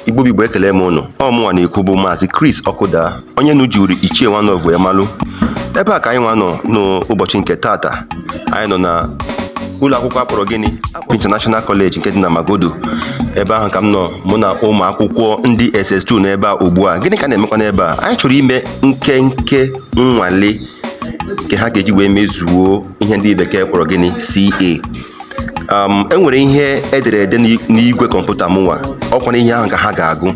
igbo bụ igbo ekelee m ụnụ ọ mụnwa na-ekwu bụ maazị Chris Ọkụda onye unu jiri ichie nwanọvụ ya malụ ebe a ka anyịnwa nọ n'ụbọchị nke tata anyị nọ na ụlọ akwụkwọ a kpọrọ gịnị International College nke dị na Magodo ebe ahụ ka m nọ mụ na ụmụ akwụkwọ ndị SS2 n'ebe a ugbu a gịnị ka na-emekwa n'ebe a anyị chọrọ ime nkenke nnwale nke ha ga-eji wee mezuo ihe ndị bekee kpọrọ gịnị CA um, e nwere ihe e dere ede n'igwe kọmputa mụnwa ọkwa na ihe ahụ ka ha ga-agụ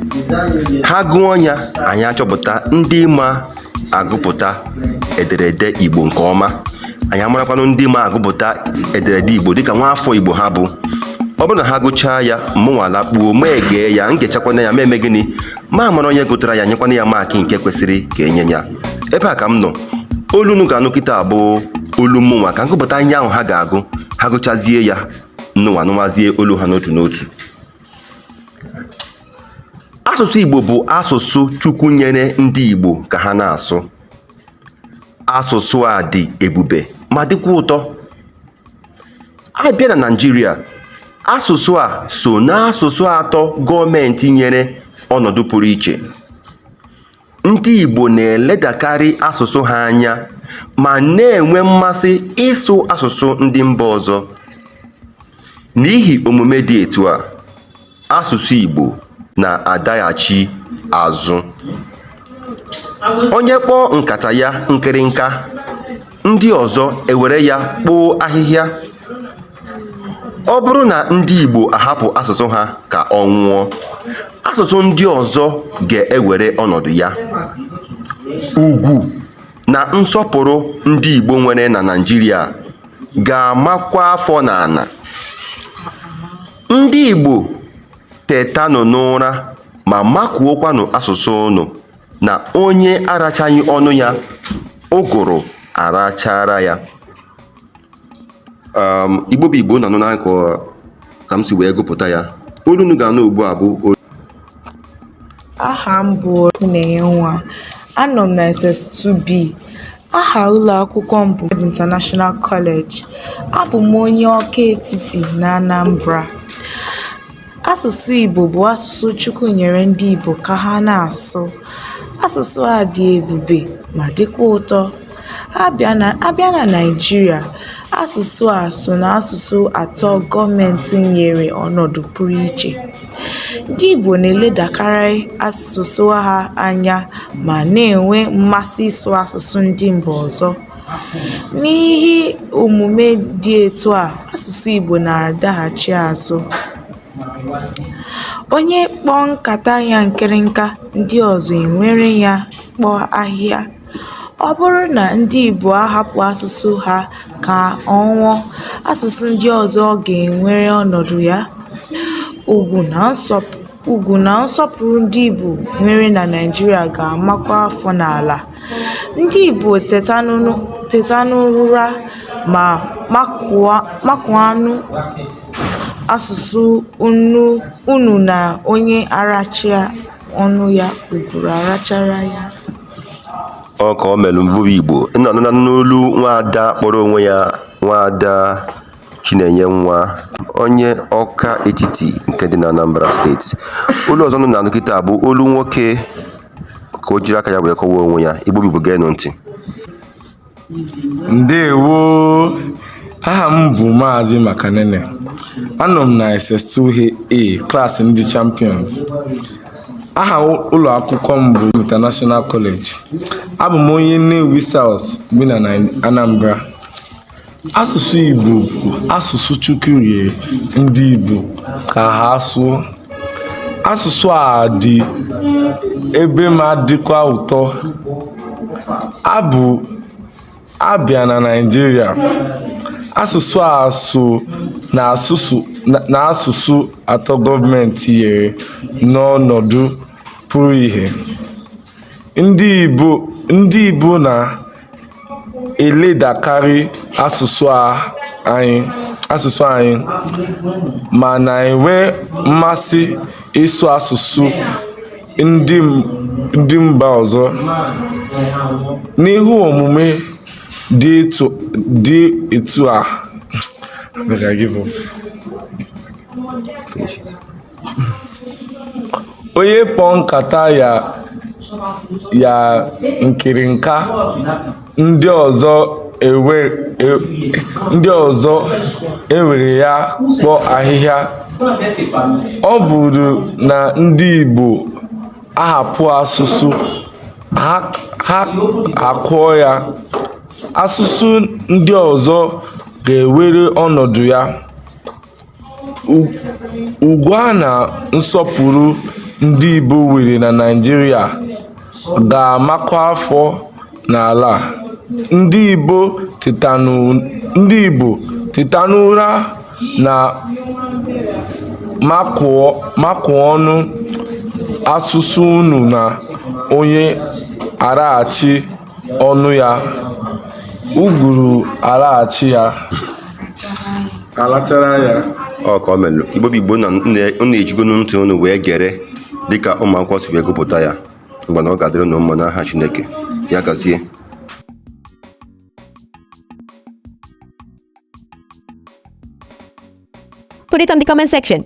ha gụọ ya anyị achọpụta ndị ma agụpụta ederede igbo nke ọma anyị amarakwanụ ndị ma agụpụta ederede igbo dịka nwa afọ igbo ha bụ ọ bụrụ na ha gụchaa ya mụnwa alakpuo m egee ya m gechakwana ya m emee gịnị m amara onye gụtara ya nyekwana ya maakị nke kwesịrị ka e nye ya ebe a ka m nọ olu unu ga-anụ kịta a bụ olu mụnwa ka m gụpụta ihe ahụ ha ga-agụ ha gụchazie ya ụnụnwa anụwazie olu ha n'otu n'otu asụsụ igbo bụ asụsụ chukwu nyere ndị igbo ka ha na-asụ asụsụ a dị ebube ma dịkwa ụtọ a bịa na Naịjirịa asụsụ a so n'asụsụ atọ gọọmenti nyere ọnọdụ pụrụ iche ndị Igbo na-eledakarị asụsụ ha anya ma na-enwe mmasị ịsụ asụsụ ndị mba ọzọ n'ihi omume dị etu a asụsụ Igbo na-adaghachi azụ. Onye kpọọ nkata ya nkịrịnka, ndị ọzọ ewere ya kpoo ahịhịa. Ọ bụrụ na ndị Igbo ahapụ asụsụ ha ka ọ nwụọ, asụsụ ndị ọzọ ga-ewere ọnọdụ ya. Ugwu na nsọpụrụ ndị Igbo nwere na Naịjirịa ga-amakwa afọ n'ala. Ndị Igbo tetanụ n'ụra ma makuokwanụ asụsụ ụnụ na onye arachaghị ọnụ ya ụgụrụ arachara ya. Um, Igbo bụ Igbo unu anụnakwa ka m si wee gụpụta ya. Olu unu ga-anụ ugbu a bụ Aha m bụ Chinenye Nwa. Anọ m na SS2B. Aha ụlọ akwụkwọ m bụ Ebe International College. Abụ m onye Ọka Etiti na Anambra. Asụsụ Igbo bụ asụsụ Chukwu nyere ndị Igbo ka ha na-asụ. Asụsụ a dị ebube ma dịkwa ụtọ. Abịa na Naịjirịa, asụsụ a so n'asụsụ atọ gọọmenti nyere ọnọdụ pụrụ iche. Ndị Igbo na-eledakarị asụsụ ha anya ma na-enwe mmasị ịsụ asụsụ ndị mba ọzọ. N'ihi omume dị etu a, asụsụ Igbo na-adaghachi azụ. Onye kpọọ nkata ya nkịrịnka, ndị ọzọ enwere ya kpoo ahịhịa. Ọ bụrụ na ndị Igbo ahapụ asụsụ ha ka ọ nwụọ, asụsụ ndị ọzọ ga-enwere ọnọdụ ya. Ugwu na nsọpụrụ ndị Igbo nwere na Naịjirịa ga-amakwa afọ n'ala. Ndị Igbo tetanụ n'ụra ma makụanụ asụsụ unu na onye aracha ọnụ ya, ụgụrụ arachara ya. ọ ka o mere ụmụ igbo bụ igbo unu anụna n'olu nwaada kpọrọ onwe ya nwaada chinenyenwa onye ọka etiti nke dị na anambra steeti olu ọzọ unu na-anụ kịta bụ olu nwoke ka o jiri aka ya wee kọwaa onwe ya igbo bụ igbo geenụ ntị ndewo aha m bụ maazị makanene anọ m na ss2a klaasị ndị champions aha ụlọ akwụkwọ m bụ international college abụ m onye nnewi south bi na anambra asụsụ igbo bụ asụsụ chukwu nyere ndị igbo ka ha sụọ asụsụ a dị ebe ma dịkwa ụtọ abụ abịa na Naịjirịa asụsụ a so na asụsụ atọ gọọmenti nyere n'ọnọdụ pụrụ iche ndị Igbo na eledakarị asụsụ anyị ma na-enwe mmasị ịsụ asụsụ ndị mba ọzọ. N'ihi omume dị etu a, onye kpọọ nkata ya nkịrịnka ndị ọzọ ewere ya kpoo ahịhịa ọ bụrụ na ndị Igbo ahapụ asụsụ ha akụọ ya asụsụ ndị ọzọ ga-ewere ọnọdụ ya Ugwu a na nsọpụrụ ndị Igbo nwere na Naịjirịa ga-amakpu afọ n'ala. Ndị Igbo teta n'ụra na makụọ ọnụ asụsụ unu na onye araghachi ọnụ ya uguru alaghachi ya alachara ya ọ ka o melụ Igbo bụ Igbo na unu ejigo ntị unu wee gere dịka ụmụ akwụkwọ si wee gụpụta ya mgbe na ọ ga-adịrị unu mma n'aha Chineke ya gazie Put it on the comment section.